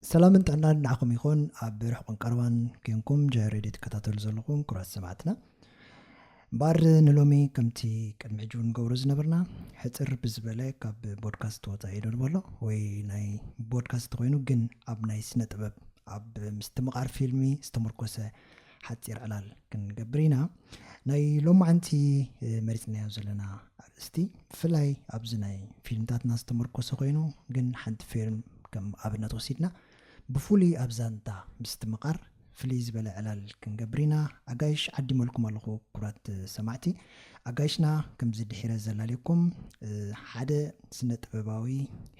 ሰላምን ጥዕናን ንዓኹም ይኹን ኣብ ርሕቁን ቀረባን ኴንኩም ጀ ሬድዮ ትከታተሉ ዘለኹም ክብራት ሰማዕትና እምበኣር ንሎሚ ከምቲ ቅድሚ ሕጂ እውን ንገብሮ ዝነበርና ሕፅር ብዝበለ ካብ ቦድካስት ወፃኢ ዶ ንበሎ ወይ ናይ ቦድካስት ኮይኑ ግን ኣብ ናይ ስነ ጥበብ ኣብ ምስትምቓር ፊልሚ ዝተመርኮሰ ሓጺር ዕላል ክንገብር ኢና ናይ ሎማዓንቲ መሪጽናዮ ዘለና ኣርእስቲ ብፍላይ ኣብዚ ናይ ፊልምታትና ዝተመርኮሰ ኮይኑ ግን ሓንቲ ፊልም ከም ኣብነት ወሲድና ብፍሉይ ኣብ ዛንታ ምስትምቓር ፍልይ ዝበለ ዕላል ክንገብር ኢና ኣጋይሽ ዓዲመልኩም ኣለኹ ኩራት ሰማዕቲ ኣጋይሽና ከምዚ ድሒረ ዘላልየኩም ሓደ ስነ ጥበባዊ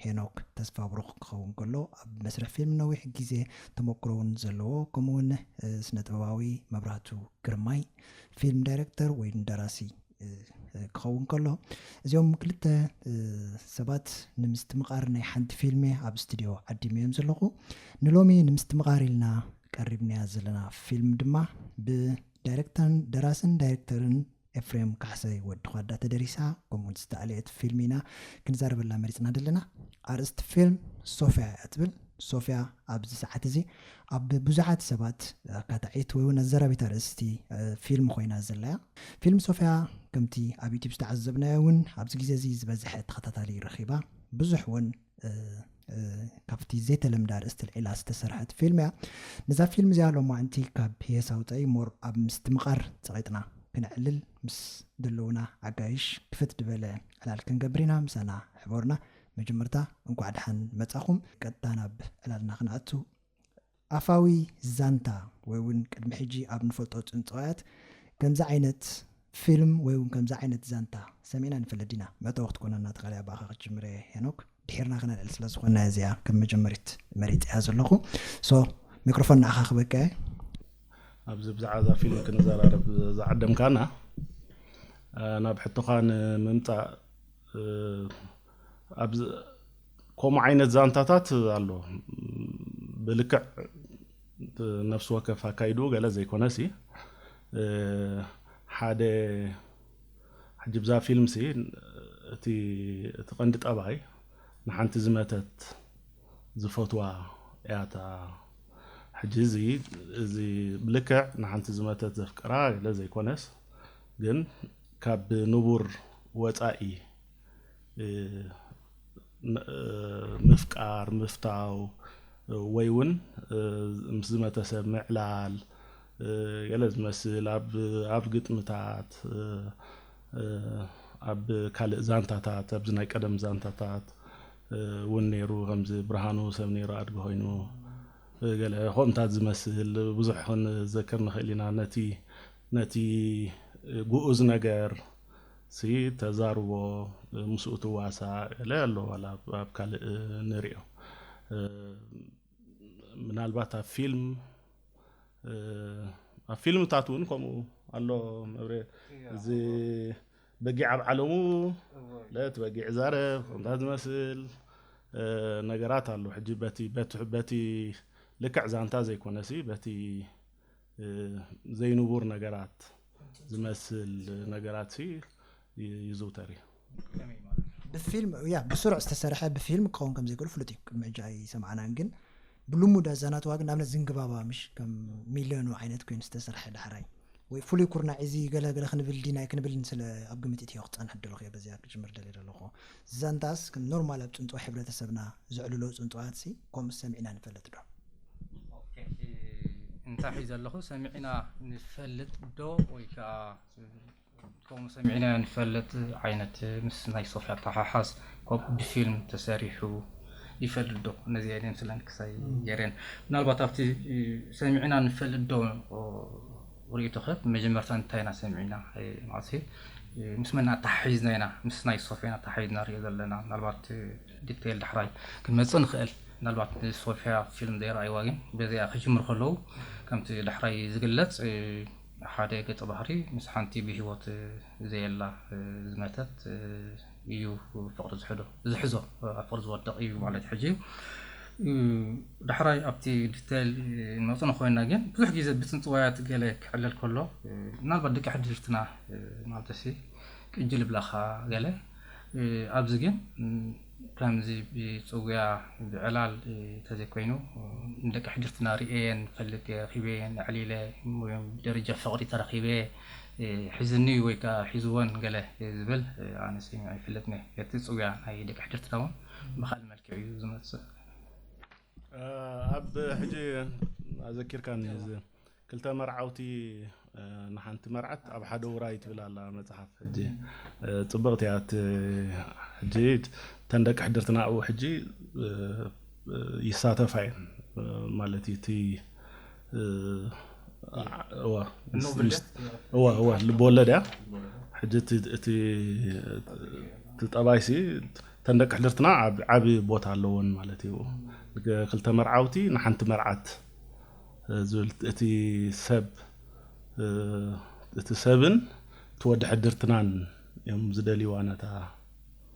ሄኖክ ተስፋብሩኽ ክኸውን ከሎ ኣብ መስርሕ ፊልም ነዊሕ ግዜ ተመክሮ እውን ዘለዎ ከምኡ እውን ስነ ጥበባዊ መብራህቱ ግርማይ ፊልም ዳይረክተር ወይ ደራሲ ክኸውን ከሎ እዚኦም ክልተ ሰባት ንምስትምቓር ናይ ሓንቲ ፊልም ኣብ ስቱድዮ ዓዲመ እዮም ዘለኹ ንሎሚ ንምስትምቓር ኢልና ቀሪብናያ ዘለና ፊልም ድማ ብ ዳይረክተርን ደራስን ዳይረክተርን ኤፍሬም ካሕሳይ ወዲ ዃዳ ተደሪሳ ከምኡ ውን ዝተኣልየት ፊልም ኢና ክንዛረበላ መሪጽና ዘለና ኣርእስቲ ፊልም ሶፍያ እያ ትብል ሶፍያ ኣብዚ ሰዓት እዚ ኣብ ብዙሓት ሰባት ኣካታዒት ወይ እውን ኣዘራቢት ኣርእስቲ ፊልም ኮይና ዘላ እያ ፊልም ሶፍያ ከምቲ ኣብ ዩቲብ ዝተዓዘብናዮ እውን ኣብዚ ግዜ እዚ ዝበዝሐ ተኸታታሊ ረኺባ ብዙሕ እውን ካብቲ ዘይተለምደ ኣርእስቲ ልዒላ ዝተሰርሐት ፊልም እያ ነዛ ፊልም እዚኣ ሎማዕንቲ ካብ ፒየስ ኣውፀኢ ሞር ኣብ ምስትምቓር ፀቒጥና ክነዕልል ምስ ዘለዉና ኣጋይሽ ክፍት ዝበለ ዕላል ክንገብር ኢና ምሳና ሕበሩና መጀመርታ እንኳዕ ድሓን መፃኹም ቀጥታ ናብ ዕላልና ክነኣቱ ኣፋዊ ዛንታ ወይ ውን ቅድሚ ሕጂ ኣብ ንፈልጦ ጽንጽዋያት ከምዚ ዓይነት ፊልም ወይ ውን ከምዚ ዓይነት ዛንታ ሰሚዕና ንፈልጥ ዲና? መእተዊ ክትኮነና ትኽእል እያ ብኣኻ ክጅምር እየ ሄኖክ ድሒርና ክነልዕል ስለ ዝኾንና እየ እዚኣ ከም መጀመሪት መሪጸያ ዘለኹ so ሚክሮፎን ንዓኻ ክበቅዕ እየ። ኣብዚ ብዛዕባ እዛ ፊልም ክንዘራረብ ዝዓደምካና ናብ ሕቶኻ ንምምጻእ ኣብዚ ከምኡ ዓይነት ዛንታታት ኣሎ ብልክዕ ነፍሲ ወከፍ ኣካይድኡ ገለ ዘይኮነሲ ሓደ ሕጂ ብዛ ፊልምሲ እቲ እቲ ቀንዲ ጠባይ ንሓንቲ ዝመተት ዝፈትዋ እያ እታ ሕጂ እዚ እዚ ብልክዕ ንሓንቲ ዝመተት ዘፍቅራ ገለ ዘይኮነስ ግን ካብ ንቡር ወጻኢ ምፍቃር፣ ምፍታው ወይ ውን ምስ ዝመተ ሰብ ምዕላል ገለ ዝመስል ኣብ ግጥምታት ኣብ ካልእ ዛንታታት ኣብዚ ናይ ቀደም ዛንታታት ውን ኔሩ ከምዚ ብርሃኑ ሰብ ኔሩ ኣድጊ ኮይኑ ገለ ከምኡታት ዝመስል ብዙሕ ክንዘክር ንክእል ኢና ነቲ ነቲ ግኡዝ ነገር ሲ ተዛርቦ ምስኡ ትዋሳ እለ ኣሎ ዋላ ኣብ ካልእ ንሪኦ ምናልባት ኣብ ፊልም ኣብ ፊልምታት እውን ከምኡ ኣሎ መብሬ እዚ በጊዕ ኣብ ዓለሙ ለት በጊዕ ዛረብ ከምታት ዝመስል ነገራት ኣሎ ሕጂ በቲ በቲ ልክዕ ዛንታ ዘይኮነሲ በቲ ዘይንቡር ነገራት ዝመስል ነገራት ይዝውተር እዩ ከመይ ማለት ብፊልም ያ ብስሩዕ ዝተሰርሐ ብፊልም ክኸውን ከም ዘይክእሉ ፍሉጥ እዩ ቅድሚ ሕጂ ኣይሰማዕናን ግን ብልሙድ ኣዛናትዋ ግን ንኣብነት ዝንግባባ ምሽ ከም ሚልዮኑ ዓይነት ኮይኑ ዝተሰርሐ ዳሕራይ ወይ ፍሉይ ኩርናዕ እዚ ገለገለ ክንብል ዲናይ ክንብል ስለ ኣብ ግምት እትዮ ክፀንሕ ደለኹ እየ በዚኣ ክጅምር ደልየ ደለኹ ዛንታስ ከም ኖርማል ኣብ ጽንጽዋ ሕብረተሰብና ዘዕልሎ ጽንጽዋትሲ ኮምስ ሰሚዕና ንፈልጥ ዶ? ኦኬ እንታይ ሒዘ ኣለኹ ሰሚዕና ንፈልጥ ዶ ወይ ከኣ ከምኡ ሰሚዕና ንፈልጥ ዓይነት ምስ ናይ ሶፊ ኣተሓሓዝ ከምኡ ብፊልም ተሰሪሑ ይፈልጥ ዶ ነዚኤን እየን ስለን ክሳይ ገሬን ምናልባት ኣብቲ ሰሚዕና ንፈልጥ ዶ ርእይቶኸ ብመጀመርታ እንታይ ኢና ሰሚዕና ማለት ምስ መን ኣተሓሒዝና ኢና ምስ ናይ ሶፍያን ኣተሓሒዝና ንሪኦ ዘለና ምናልባት ዲቴይል ዳሕራይ ክንመፅእ ንኽእል ምናልባት ንሶፍያ ፊልም ዘይረኣይዋ ግን በዚኣ ክጅምር ከለዉ ከምቲ ዳሕራይ ዝግለጽ ሓደ ገጸ ባህሪ ምስ ሓንቲ ብሂወት ዘየላ ዝመተት እዩ ፍቅሪ ዝሕዶ ዝሕዞ ኣብ ፍቅሪ ዝወድቅ እዩ ማለት ሕጂ ዳሕራይ ኣብቲ ዲተይል ንመጽ ኮይና ግን ብዙሕ ግዜ ብጽንጽዋያት ገለ ክሕለል ከሎ ምናልባት ደቂ ሕድርትና ማለትሲ ቅጅል ይብላኻ ገለ ኣብዚ ግን ከምዚ ብጽውያ ብዕላል ተዘይኮይኑ ንደቂ ሕድርትና ርእየን ፈልጥ ረኺበየን ኣዕሊለ ብደረጃ ፍቅሪ ተረኺበ ሒዝኒ ወይ ከኣ ሒዝወን ገለ ዝብል ኣነ ሰሚዐ ኣይፈልጥን ኢየ እቲ ጽውያ ናይ ደቂ ሕድርትና ውን ብካልእ መልክዕ ኢዩ ዝመጽእ። ኣብ ሕጂ ኣዘኪርካኒ እዚ ክልተ መርዓውቲ ንሓንቲ መርዓት ኣብ ሓደ ውራይ ትብል ኣላ መጽሓፍ ሕጂ ጽብቕቲ እያ እቲ ሕጂ እተን ደቂ ሕድርትና ኣብኡ ሕጂ ይሳተፋ እየን ማለት እዩ እቲ እዋ እዋ እዋ ልብወለድ እያ ሕጂ እቲ ጠባይሲ እተን ደቂ ሕድርትና ዓብ ቦታ ኣለዎን ማለት እዩ ክልተ መርዓውቲ ንሓንቲ መርዓት ዝብል እቲ ሰብ እቲ ሰብን እቲ ወዲ ሕድርትናን እዮም ዝደልይዋ ነታ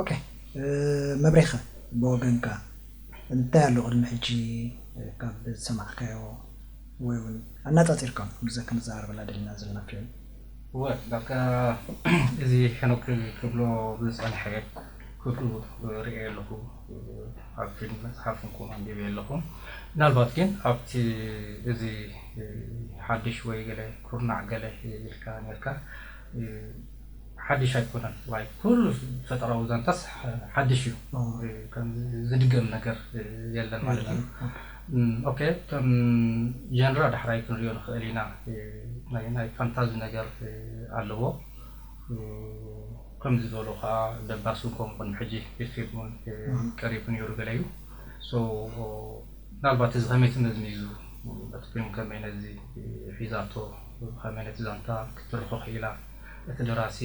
ኦኬ መብሬ ከ ብወገንካ እንታይ ኣሎ ቅድሚ ሕጂ ካብ ዝሰማዕካዮ ወይ ውን ኣናጻጺርካ ውን ምስዛ ክንዛረበላ ደሊና ዘለና ፊልም? እወ ዳርጋ እዚ ሄኖክ ክብሎ ዝጸንሐ ኩሉ ርእየ ኣለኩ ኣብ ፊልም መጽሓፍ ውን ኣንቢበ ኣለኩ ምናልባት ግን ኣብቲ እዚ ሓድሽ ወይ ገለ ኩርናዕ ገለ ኢልካ ኔርካ ሓድሽ ኣይኮነን ዋይ ኩሉ ፈጠራዊ ዛንታስ ሓድሽ እዩ ከምዚ ዝድገም ነገር የለን ማለት እዩ ኦኬ ከም ጀንራ ዳሕራይ ክንሪኦ ንክእል ኢና ናይ ናይ ፋንታዚ ነገር ኣለዎ ከምዚ ዝበሉ ከኣ ደባስ ውን ከምኡ ቅድሚ ሕጂ ፊልም ውን ቀሪቡ ኔሩ ገለ እዩ so ምናልባት እዚ ከመይ ትመዝሚዙ እቲ ፊልም ከመይ ነዚ ሒዛቶ ብኸመይ ነቲ ዛንታ ክትርኾ ክኢላ? እቲ ደራሲ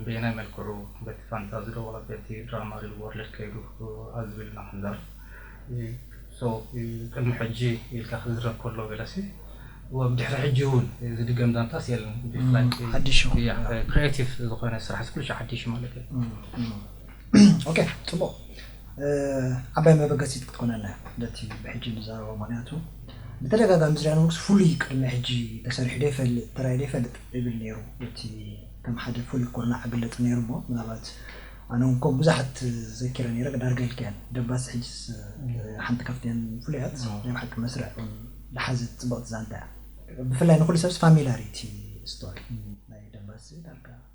በየናይ መልክዑ በቲ ፋንታ ዝደወሎ በቲ ድራማ ሪል ዎርልድ ከይዱ ኣብ ዝብል ኢና ክንዛረብ። So ቅድሚ ሕጂ ኢልካ ክዝረብ ከሎ ገለሲ ወብ ድሕሪ ሕጂ ውን ዝድገም ዛንታስ የለን ብፍላይ ክሪኤቲቭ ዝኾነ ስራሕሲ ኩሉ ሻዕ ሓዲሽ ማለት እዩ። ኦኬ ጽቡቕ። ዓባይ መበገሲት ክትኮነና እያ ነቲ ብሕጂ ንዛረቦ ምክንያቱ ብተደጋጋሚ ዝርያኖምክስ ፍሉይ ቅድሚ ሕጂ ተሰሪሑ ደይፈልጥ ተራእዩ ደይፈልጥ ይብል ነይሩ እቲ ከም ሓደ ፍሉይ ኩርናዕ ግለጹ ነይሩ እሞ ምናልባት ኣነውን ከም ብዙሓት ዘኪረ ነይረ ዳርጋ ኢልካየን ደባስ ሕጅስ ሓንቲ ካብተን ፍሉያት ናይ ብሓቂ መስርዕ ውን ዝሓዘት ጽብቕቲ ዛንታ እያ ብፍላይ ንኩሉ ሰብስ ፋሚላር እዩ እቲ ስቶሪ ናይ ደባስ ዳርጋ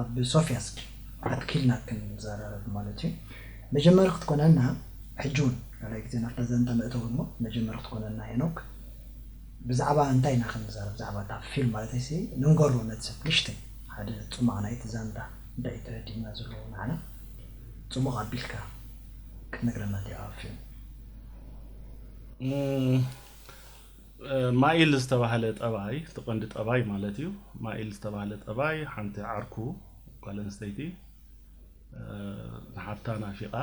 ኣብ ሶፍያ እስኪ ኣትኪልና ክንዘራረብ ማለት እዩ መጀመሪ ክትኮነና ሕጂ ውን ካልኣይ ግዜ ናብታ ዛንታ መእተዊ እሞ መጀመሪ ክትኮነና ሄኖክ ብዛዕባ እንታይ ኢና ክንዛረብ ብዛዕባ እታ ፊልም ማለተይሲ ንንገሮ ነቲ ሰብ ንእሽተይ ሓደ ጽማቕ ናይቲ ዛንታ እንታይ እዩ ተረዲእና ዘለዎ ንዓና ጽሙቕ ኣቢልካ ክትነግረና እንዲኻ ኣብ ፊልም ማይል ዝተባህለ ጠባይ፣ እቲ ቀንዲ ጠባይ ማለት እዩ፣ ማይል ዝተባህለ ጠባይ ሓንቲ ዓርኩ ጓል ኣንስተይቲ ንሓብታ ናፊቓ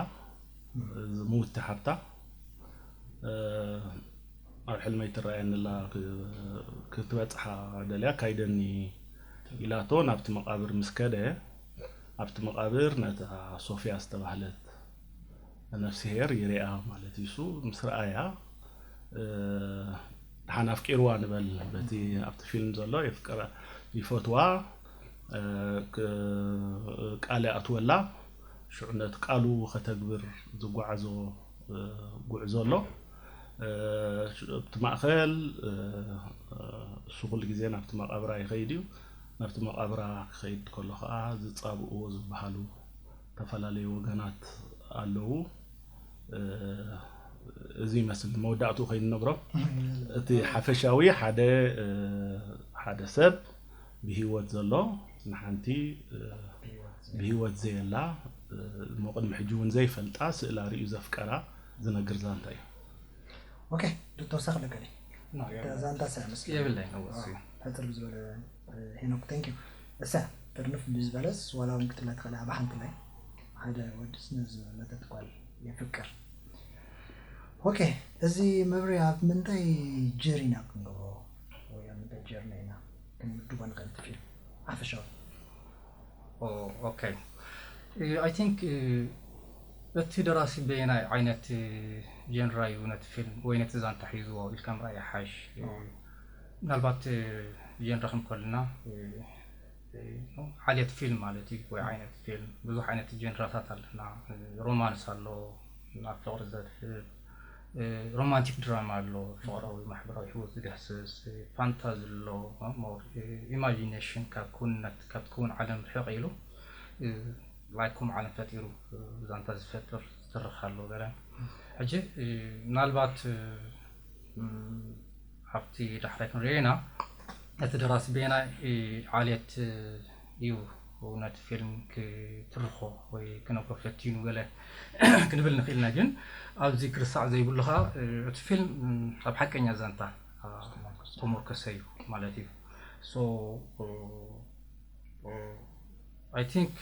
ዝምውቲ ሓብታ ኣብ ሕልመይ ትረኣየኒ ኣላ ክትበጽሓ ደልያ ኣካይደኒ ኢላቶ ናብቲ መቓብር ምስ ከደ ኣብቲ መቓብር ነታ ሶፍያ ዝተባህለት ነፍስሄር ይርኣ ማለት እዩ እሱ ምስ ረኣያ ደሓን ኣፍቂርዋ ንበል በቲ ኣብቲ ፊልም ዘሎ ይፈትዋ ቃል ይኣትወላ ሽዑ ነቲ ቃሉ ከተግብር ዝጓዓዞ ጉዕዞ ኣሎ ኣብቲ ማእኸል እሱ ኩሉ ግዜ ናብቲ መቓብራ ይኸይድ እዩ ናብቲ መቓብራ ክኸይድ ከሎ ከዓ ዝፃብእዎ ዝበሃሉ ዝተፈላለዩ ወገናት ኣለዉ እዚ ይመስል መወዳእትኡ ከይንነግሮ እቲ ሓፈሻዊ ሓደ ሓደ ሰብ ብሂወት ዘሎ ንሓንቲ ብሂወት ዘየላ እሞ ቅድሚ ሕጂ እውን ዘይፈልጣ ስእላ ርእዩ ዘፍቀራ ዝነግር ዛንታ እዩ ኦኬ ዶተወሳኺ ለገለ ዛንታ ሳያምስ የብለይ ሕፅር ብዝበለ ሄኖክ ታንኪዩ እሰይ ጥርንፍ ብዝበለስ ዋላ ውን ክትብላ ትኽእል ኢኻ ብሓንቲ ማይ ሓደ ወድስ ንዝመተት ጓል የፍቅር ኦኬ እዚ መብርሂ ኣብ ምንታይ ጀር ኢና ክንገብሮ ወይ ኣብ ምንታይ ጀርኒ ኢና ክንምድቦ ንኽእል እቲ ፊልም ሓፈሻዊ ኦኬ ኣይ ቲንክ እቲ ደራሲ በየናይ ዓይነት ጀንራ እዩ ነቲ ፊልም ወይ ነቲ ዛንታ ሒዝዎ ኢልካ ምርኣይ ይሓሽ ምናልባት ጀንረ ክንኮልና ዓሌት ፊልም ማለት እዩ ወይ ዓይነት ፊልም ብዙሕ ዓይነት ጀንራታት ኣለና ሮማንስ ኣሎ ናብ ፍቕሪ ዘድህብ ሮማንቲክ ድራማ ኣሎ ፍቕራዊ ማሕበራዊ ህይወት ዝዳህስስ ፋንታዚ ኣሎ ኢማጂኔሽን ካብ ክውንነት ካብ ትክውን ዓለም ርሕቕ ኢሉ ላይክ ከምኡ ዓለም ፈጢሩ ዛንታ ዝፈጥር ዝትርኽ ኣሎ ገለ ሕጂ ምናልባት ኣብቲ ዳሕራይ ክንሪኦ ኢና። እቲ ደራሲ በየናይ ዓሌት እዩ ነቲ ፊልም ክትርኾ ወይ ክነግሮ ፈቲኑ ገለ ክንብል ንኽእል ኢና። ግን ኣብዚ ክርሳዕ ዘይብሉ ከኣ እቲ ፊልም ኣብ ሓቀኛ ዛንታ ዝተሞርከሰ እዩ ማለት እዩ። ሶ ኣይ ቲንክ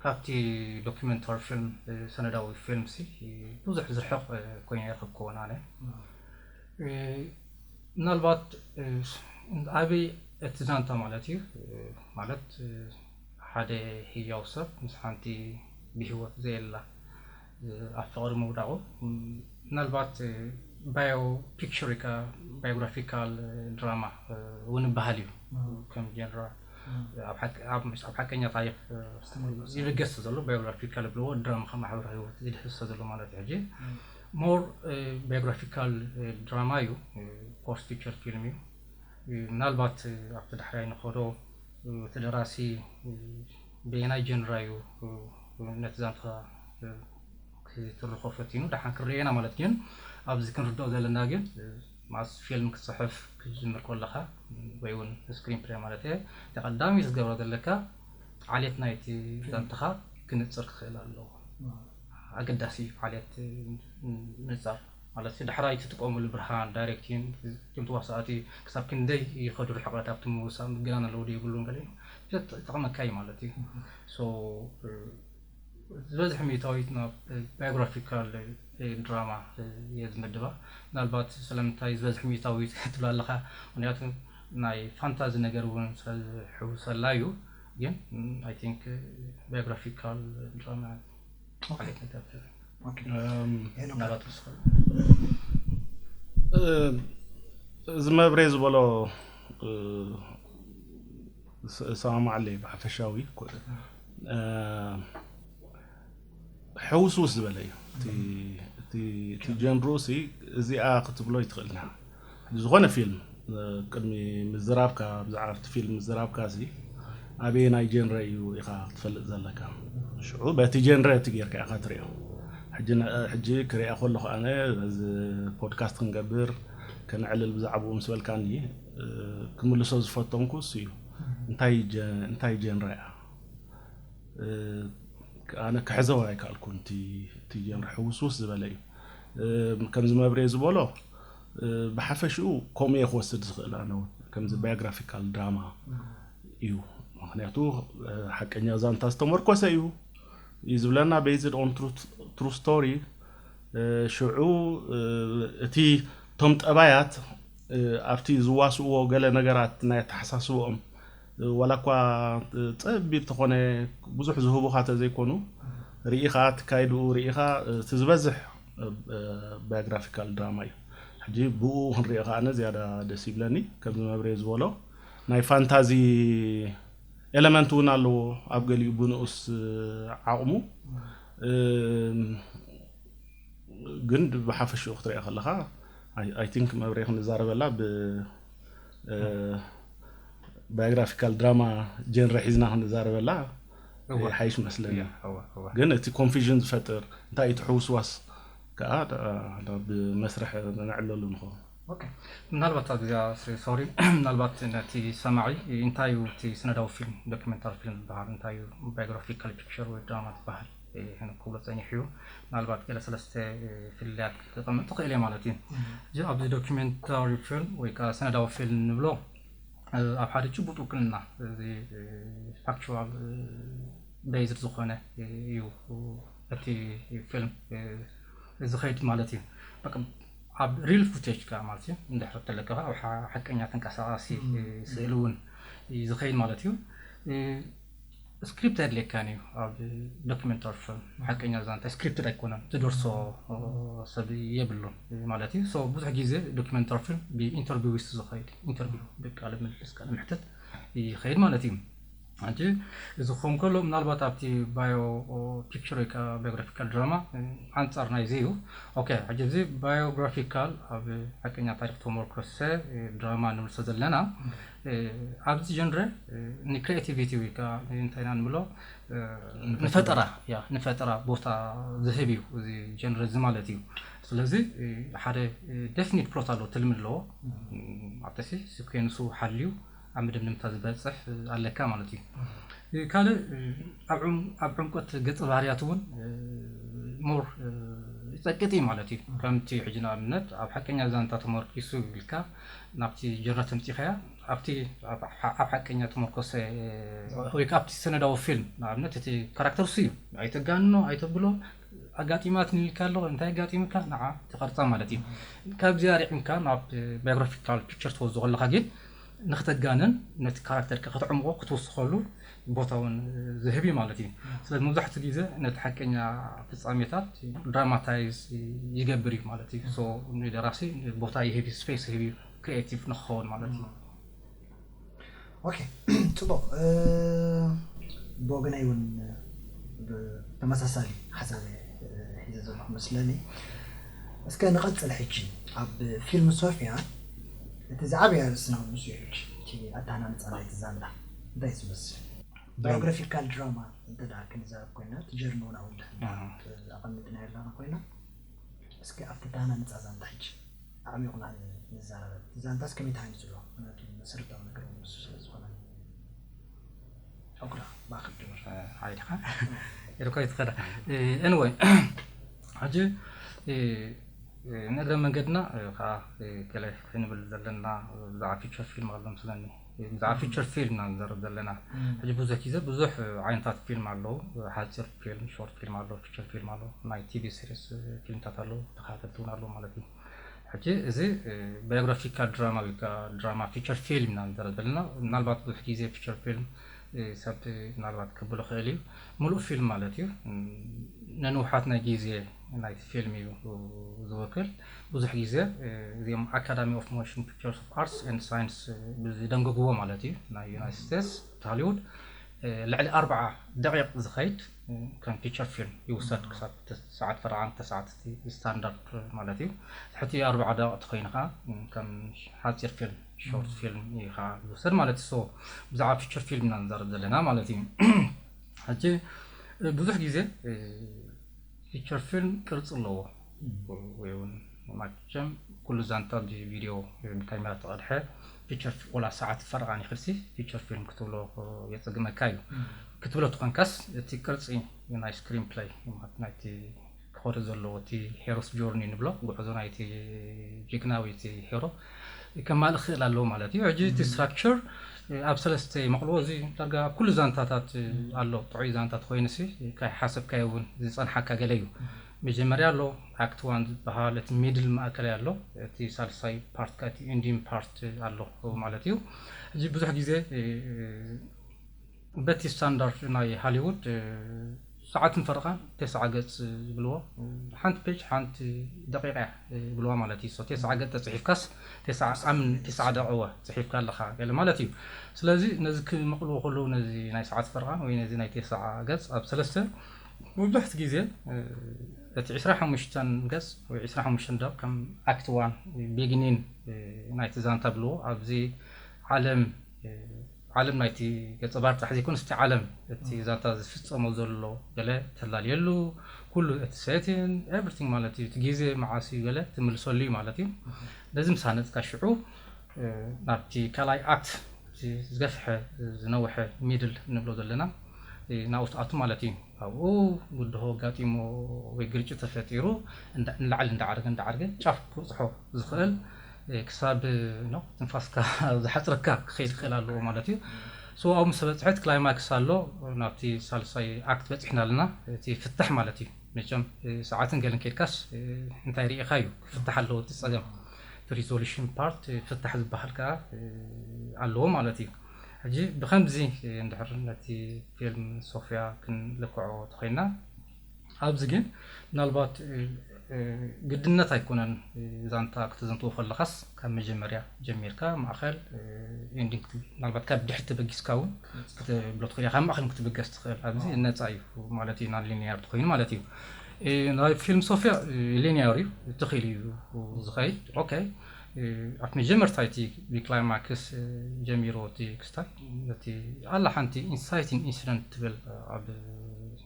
ካብቲ ዶክመንታሪ ፊልም፣ ሰነዳዊ ፊልምሲ፣ ብዙሕ ዝርሕቕ ኮይኑ ኣይረኸብኩዎን ኣነ። ምናልባት ዓብይ እቲ ዛንታ ማለት እዩ ማለት ሓደ ህያው ሰብ ምስ ሓንቲ ብሂወት ዘየላ ኣብ ፍቕሪ ምውዳቑ ምናልባት ባዮ ፒክቸር ኢካ ባዮግራፊካል ድራማ እውን ይበሃል እዩ ከም ጀነራ ኣብ ሓቀኛ ታሪክ ይልገስ ዘሎ ባዮግራፊካል ብልዎ ድራማ ከም ማሕበራዊ ህይወት ዝድህሰ ዘሎ ማለት እዩ ሕጂ More Biographical Drama እዩ Post Feature Film እዩ ምናልባት ኣብቲ ዳሕራይ ንኸዶ እቲ ደራሲ በየናይ Genre እዩ ነቲ ዛንታ ክትርኾ ፈቲኑ ዳሓን ክንርእዮ ኢና ማለት ግን ኣብዚ ክንርድኦ ዘለና ግን ማስ ፊልም ክትጽሕፍ ክትጅምር ኮለኻ ወይ ውን ስክሪን ፕለይ ማለት እየ እቲ ቀዳምይ ክትገብሮ ዘለካ ዓሌት ናይቲ ዛንታኻ ክንጽር ክኽእል ኣለዎ ኣገዳሲ ዓሌት ምንጻር ማለት ዳሕራይ ትጥቀምሉ ብርሃን ዳይሬክቲን እቶም ተዋሳእቲ ክሳብ ክንደይ ይኸዱ ርሕቐት ኣብቲ ምውሳእ ምግናን ኣለዎ ዶ የብሉን ገለ ጠቕመካ እዩ ማለት እዩ ሶ ዝበዝሕ ሚእታዊት ናብ ባዮግራፊካል ድራማ እየ ዝምድባ ምናልባት ስለምንታይ ዝበዝሕ ሚእታዊት ትብላ ኣለኻ ምክንያቱ ናይ ፋንታዚ ነገር እውን ስለዝሕውሰላ እዩ ግን ኣይ ቲንክ ባዮግራፊካል ድራማ ዓይነት ነገር ተርኢ ምናልባት ክስኸ እዚ መብሬ ዝበሎ እሰማማዓለ እዩ ብሓፈሻዊ ሕውስውስ ዝበለ እዩ እቲ ጀንርኡ እዚኣ ክትብሎ ኣይትኽእልን ዝኾነ ፊልም ቅድሚ ምዝራብካ ብዛዕባ ኣብቲ ፊልም ምዝራብካሲ ኣበየናይ ጀንረ እዩ ኢኻ ክትፈልጥ ዘለካ ሽዑ በቲ ጀንረ እቲ ጌርካ ኢኻ ትሪኦ ሕጂ ክሪኣ ከለኹ ኣነ በዚ ፖድካስት ክንገብር ከነዕልል ብዛዕባኡ ምስ በልካኒ ክምልሶ ዝፈተንኩ እሱ እዩ እንታይ ጀንረ እያ ኣነ ክሕዘው ኣይከኣልኩን እቲ ጀንሪ ሕውስውስ ዝበለ እዩ ከምዚ መብሬ ዝበሎ ብሓፈሽኡ ከምኡ እየ ክወስድ ዝኽእል ኣነ እውን ከምዚ ባዮግራፊካል ድራማ እዩ ምክንያቱ ሓቀኛ ዛንታ ዝተመርኮሰ እዩ እዩ ዝብለና ቤዝድ ኦን ትሩ ስቶሪ ሽዑ እቲ እቶም ጠባያት ኣብቲ ዝዋስእዎ ገለ ነገራት ናይ ኣተሓሳስበኦም ዋላ እኳ ጸቢብ ተኾነ ብዙሕ ዝህቡኻ ተዘይኮኑ ሪኢ ከኣ ትካይድኡ ሪኢኻ እቲ ዝበዝሕ ባዮግራፊካል ድራማ እዩ ሕጂ ብኡ ክንሪኦ ከኣ ኣነ ዝያዳ ደስ ይብለኒ ከምዚ መብሬ ዝበሎ ናይ ፋንታዚ ኤለመንት እውን ኣለዎ ኣብ ገሊኡ ብንኡስ ዓቕሙ ግን ብሓፈሽኡ ክትሪኦ ከለኻ ኣይ ቲንክ መብሬ ክንዛረበላ ብ ባዮግራፊካል ድራማ ጀንረ ሒዝና ክንዛረበላ ይሓይሽ መስለኒ ግን እቲ ኮንፊዥን ዝፈጥር እንታይ እቲ ሕውስዋስ ከዓ ብመስርሕ ነዕለሉ ንኸውን ምናልባት ኣብዚኣ ሶሪ ምናልባት ነቲ ሰማዒ እንታይ እዩ እቲ ስነዳዊ ፊልም ዶኪመንታሪ ፊልም ዝበሃል እንታይ እዩ ባዮግራፊካል ፒክቸር ወይ ድራማ ዝበሃል ክብሎ ጸኒሑ እዩ። ምናልባት ገለ ሰለስተ ፍልልያት ከቐምጥ ትኽእል እየ ማለት እዩ። እዚ ኣብዚ ዶክመንታሪ ፊልም ወይ ከኣ ሰነዳዊ ፊልም ንብሎ ኣብ ሓደ ጭቡጥ ውክልና እዚ ፋክቹዋል ቤዝድ ዝኾነ እዩ እቲ ፊልም ዝኸይድ ማለት እዩ። ኣብ ሪል ፉቴጅ ከዓ ማለት እዩ እንድሕር ተለካ ኣብ ሓቀኛ ተንቀሳቃሲ ስእሊ እውን ዝኸይድ ማለት እዩ ስክሪፕት ኣየድልየካን እዩ ኣብ ዶክመንታሪ ፊልም ሓቀኛ ዛንታ ስክሪፕትድ ኣይኮነን ትደርሶ ሰብ የብሉን ማለት እዩ ሶ ብዙሕ ግዜ ዶክመንታሪ ፊልም ብኢንተርቪዊስት ዝኸይድ ኢንተርቪው ብቃለ ምልልስ ቃለ መሕተት ይኸይድ ማለት እዩ ሕጂ እዚ ክኸውን ከሎ ምናልባት ኣብቲ ባዮ ፒክቸር ወይ ከዓ ባዮግራፊካል ድራማ ኣንጻር ናይዚ እዩ ኦኬ ሕጂ እዚ ባዮግራፊካል ኣብ ሓቀኛ ታሪክ ተመርኮሰ ድራማ ንምልሶ ዘለና ኣብዚ ጀንረ ንክሬቲቪቲ ወይ ከዓ እንታይ ኢና ንብሎ ንፈጠራ ያ ንፈጠራ ቦታ ዝህብ እዩ እዚ ጀንረ እዚ ማለት እዩ ስለዚ ሓደ ደፍኒት ፕሎት ኣለዎ ትልሚ ኣለዎ ኣብተሲ ስኩንሱ ሓልዩ ኣብ ምድምድምታ ዝበፅሕ ኣለካ ማለት እዩ ካልእ ኣብ ዕምቆት ገፀ ባህርያት እውን ሞር ይፀቅጥ እዩ ማለት እዩ ከምቲ ሕጂ ንኣብነት ኣብ ሓቀኛ ዛንታ ተመርኪሱ ኢልካ ናብቲ ጀርነት ኣምጺእካያ ኣብቲ ኣብ ሓቀኛ ተመርኮሰ ወይ ከኣ ኣብቲ ሰነዳዊ ፊልም ንኣብነት እቲ ካራክተር እሱ እዩ ኣይተጋንኖ ኣይተብሎ ኣጋጢማትኒ ኢልካ ኣሎ እንታይ ኣጋጢምካ ንዓ ትቐርጻ ማለት እዩ ካብዚኣ ርዒምካ ናብ ባዮግራፊካል ፒክቸር ትወዝኦ ከለኻ ግን ንክተጋንን ነቲ ካራክተር ከተዕምቆ ክትውስኸሉ ቦታ ውን ዝህብ ዩ ማለት ዩ። ስለዚ መብዛሕትኡ ግዘ ነቲ ሓቀኛ ፍፃሜታት ድራማታይዝ ይገብር ዩ ማለት ዩ። ሶ ንደራሲ ቦታ ይህብ ዩ ስፔስ ይህብ ዩ ክሪኤቲቭ ንክኸውን ማለት ዩ። ኦኬ ፅቡቕ ብወገነይ ውን ተመሳሳሊ ሓሳብ እየ ሒዘ ዘለኹ መስለኒ። እስከ ንቐፅል ሕጂ ኣብ ፊልም ሶፊያ እቲ ዝዓበየ ኣርእስትና ውን ንሱ ዩ ሕጂ እቲ ኣተሃናንፃ ናይቲ ዛንታ። እንታይ ዝመስል ባዮግራፊካል ድራማ እንተ ክንዛረብ ኮይና እቲ ጀርኒ እውን ኣብ ድሕን ኣቐሚጥና ኣለና ኮይና እስኪ ኣብቲ ዳና ነፃ ዛንታ ሕጂ ኣዕሚቑና ንዛረበ እቲ ዛንታስ ከመይ ተሃኒፁ ኣሎ ምክንያቱ መሰረታዊ ነገር ንሱ ስለ ዝኾነ ዑቅራ ባክል ድምር ሓይልካ ኢልኮ ይትኸዳ ኤንወይ ሕጂ ንእግረ መንገድና ከዓ ገለ ክንብል ዘለና ብዛዕባ ፊቸር ፊልም ኣለምስለኒ ብዛዕባ ፊቸር ፊልም ኢና ንዘረብ ዘለና ሕጂ ብዙሕ ግዜ ብዙሕ ዓይነታት ፊልም ኣለዉ ሓጺር ፊልም ሾርት ፊልም ኣለዉ ፊቸር ፊልም ኣለዉ ናይ ቲቪ ሲሪስ ፊልምታት ኣለዉ ተኸታተልቲ እውን ኣለዉ ማለት እዩ ሕጂ እዚ ባዮግራፊካል ድራማ ወይ ከዓ ድራማ ፊቸር ፊልም ኢና ንዘረብ ዘለና ምናልባት ብዙሕ ግዜ ፊቸር ፊልም ሰብ ምናልባት ክብሎ ክእል እዩ ምሉእ ፊልም ማለት እዩ ነንውሓት ናይ ግዜ ናይቲ ፊልም እዩ ዝውክል። ብዙሕ ግዜ እዚኦም ኣካዳሚ ኦፍ ሞሽን ፒክቸርስ ኦፍ ኣርትስ ኤንድ ሳይንስ ብዝደንገግዎ ማለት እዩ ናይ ዩናይትድ ስቴትስ ሆሊውድ ልዕሊ ኣርብዓ ደቂቕ ዝኸይድ ከም ፊቸር ፊልም ይውሰድ ክሳብ ትስዓት ፈርዓን ተስዓት ስታንዳርድ ማለት እዩ ትሕቲ ኣርብዓ ደቂቕ ተኮይኑ ከዓ ከም ሓፂር ፊልም ሾርት ፊልም እዩ ከዓ ዝውሰድ ማለት እዩ ሶ ብዛዕባ ፊቸር ፊልም ኢና ንዛረብ ዘለና ማለት እዩ ሕጂ ብዙሕ ግዜ ፊቸር ፊልም ቅርጺ ኣለዎ ወይ ውን ማቸም ኩሉ ዛንታ ብ ቪድዮ ወይ ብ ካሜራ ተቀድሐ ፊቸር ወላ ሰዓት ፈረቃን ይክድሲ ፊቸር ፊልም ክትብሎ የጸግመካ እዩ ክትብሎ ተኮንካስ እቲ ቅርጺ ናይ ስክሪን ፕለይ ማለት ናይቲ ክኮሪ ዘለዎ እቲ ሄሮስ ጆርኒ ንብሎ ጉዕዞ ናይቲ ጅግና ወይ እቲ ሄሮ ከማልእ ክኽእል ኣለዎ ማለት እዩ። ሕጂ እቲ ስትራክቸር ኣብ ሰለስተ ይመቕልዎ። እዚ ዳርጋ ኣብ ኩሉ ዛንታታት ኣሎ። ጥዑይ ዛንታ ተኾይኑሲ ካይሓሰብካዮ እውን ዝጸንሓካ ገለ እዩ። መጀመርያ ኣሎ ኣክት ዋን ዝበሃል፣ እቲ ሚድል ማእከላይ ኣሎ፣ እቲ ሳልሳይ ፓርት ከኣ እቲ ኢንዲንግ ፓርት ኣሎ ማለት እዩ። ሕጂ ብዙሕ ግዜ በቲ ስታንዳርድ ናይ ሃሊዉድ ሰዓትን ፈረቓን ቴስዓ ገጽ ይብልዎ። ሓንቲ ፔጅ ሓንቲ ደቒቕ'ያ ይብልዋ ማለት እዩ። ሶ ቴስዓ ገጽ ተጽሒፍካስ ቴስዓ ኣምን ቴስዓ ደቕወ ጽሒፍካ ኣለኻ ገለ ማለት እዩ። ስለዚ ነዚ ክመቕልዎ ከለዉ ነዚ ናይ ሰዓትን ፈረቓን ወይ ነዚ ናይ ቴስዓ ገጽ ኣብ ሰለስተ መብዛሕትኡ ግዜ እቲ ዕስራ ሓሙሽተ ገጽ ወይ ዕስራ ሓሙሽተ ደቕ ከም ኣክት ዋን፣ ቤጊኒን፣ ናይቲ ዛንታ ይብልዎ። ኣብዚ ዓለም ዓለም ናይቲ ገጸ ባህሪ ጥራሕ ዘይኮነስ እቲ ዓለም እቲ ዛንታ ዝፍጸሞ ዘሎ ገለ ተላልየሉ ኩሉ እቲ ሴቲን ኤቭሪቲንግ ማለት እዩ እቲ ግዜ መዓስ እዩ ገለ ትምልሰሉ እዩ ማለት እዩ ነዚ ምስ ሃነጽካ ሽዑ ናብቲ ካልኣይ ኣክት እቲ ዝገፍሐ ዝነውሐ ሚድል ንብሎ ዘለና ናብኡ ትኣቱ ማለት እዩ ኣብኡ ብድሆ ኣጋጢሞ ወይ ግርጭት ተፈጢሩ ንላዕሊ እንዳዓረገ እንዳዓረገ ጫፍ ክብጽሖ ዝኽእል ክሳብ ትንፋስካ ዝሓጽረካ ክኸይድ ክኽእል ኣለዎ ማለት እዩ። ስዋኣኡ ምስ በጽሐት ክላይማክስ ኣሎ ናብቲ ሳልሳይ ኣክት በጺሕና ኣለና እቲ ፍታሕ ማለት እዩ። መቸም ሰዓትን ገለን ኬድካስ እንታይ ሪኢኻ እዩ ክፍታሕ ኣለዎ እቲ ጸገም እቲ ሪዞሉሽን ፓርት ፍታሕ ዝበሃል ከኣ ኣለዎ ማለት እዩ። ሕጂ ብኸምዚ እንድሕር ነቲ ፊልም ሶፍያ ክንልክዖ ተኾይንና። ኣብዚ ግን ምናልባት ግድነት ኣይኮነን ዛንታ ክተዘንትዎ ከለኻስ ካብ መጀመርያ ጀሚርካ ማእኸል ኤንዲንግ ምናልባት ካብ ድሕር ተበጊስካ እውን ክትብሎ ትኽእል ካብ ማእኸል ክትብገስ ትኽእል ኣብዚ ነፃ እዩ ማለት እዩ ናን ሊኒያር ትኮይኑ ማለት እዩ ናይ ፊልም ሶፍያ ሊኒያር እዩ ትኽእል እዩ ዝኸይድ ኦኬ ኣብ መጀመርታ እቲ ብክላይማክስ ጀሚሮ እቲ ክስታይ እቲ ኣላ ሓንቲ ኢንሳይቲንግ ኢንሲደንት ትብል ኣብ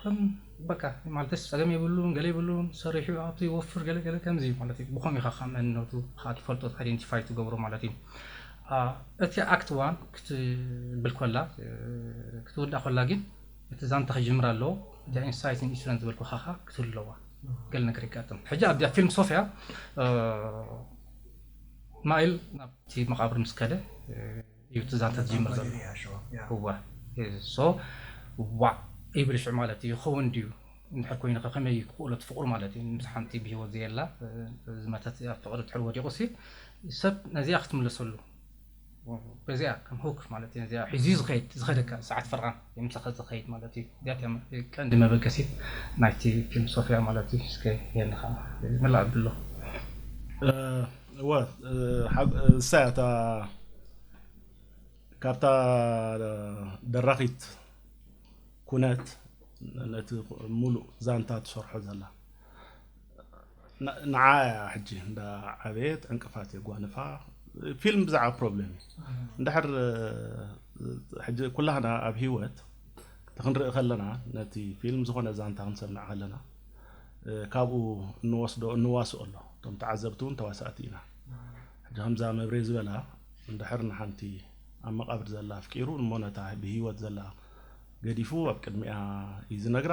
ከም በቃ ማለትስ ጸገም የብሉን ገለ የብሉን ሰሪሑ ይኣቱ ይወፍር ገለ ገለ ከምዚ እዩ ማለት እዩ ብኸም ኢኻ ካብ መንነቱ ኸኣ ትፈልጦ ኣይደንቲፋይ ትገብሮ ማለት እዩ እቲ ኣክት ዋን ክትብል ኮላ ክትውዳእ ኮላ ግን እቲ ዛንታ ክጅምር ኣለዎ እዚኣ ኢንሳይት ኢንሹረንስ ዝበልኩ ካኻ ክትህሉ ኣለዋ ገለ ነገር ይጋጥም ሕጂ ኣብዚኣ ፊልም ሶፍያ ማይል ናብቲ መቓብር ምስ ከደ እዩ እቲ ዛንታ ዝጅምር ዘሎ እወ so ዋእ ይብል ሽዑ ማለት እዩ ይከውን ድዩ እንድሕር ኮይኑ ከ ከመይ እዩ ክክእሎ እቲ ፍቅሩ ማለት እዩ ምስ ሓንቲ ብሂወት ዘየላ ዝመተት ኣብ ፍቅሪ ድሕሪ ወዲቁ ሲ ሰብ ነዚኣ ክትምለሰሉ በዚኣ ከም ሆክ ማለት እዩ ነዚኣ ሒዙ ዝከድ ዝከደካ ሰዓት ፈርቃን የምሳካ ዝከይድ ማለት እዩ እዚኣ ቀንዲ መበገሲት ናይቲ ፊልም ሶፍያ ማለት እዩ እስከ የንካ መላእ ኣብሎ እወ እሳ እያ እታ ካብታ ደራኺት ኩነት ነቲ ሙሉእ ዛንታ ትሰርሖ ዘላ ንዓ እያ ሕጂ እንዳ ዓበየት ዕንቅፋት የጓንፋ ፊልም ብዛዕባ ፕሮብሌም እዩ እንድሕር ሕጂ ኩላህና ኣብ ሂወት ክንርኢ ከለና ነቲ ፊልም ዝኾነ ዛንታ ክንሰምዕ ከለና ካብኡ እንወስዶ እንዋስኦ ኣሎ እቶም ተዓዘብቲ እውን ተዋሳእቲ ኢና ሕጂ ከምዛ መብሬ ዝበላ እንድሕር ንሓንቲ ኣብ መቃብር ዘላ ኣፍቂሩ እሞ ነታ ብሂወት ዘላ ገዲፉ ኣብ ቅድሚኣ እዩ ዝነግራ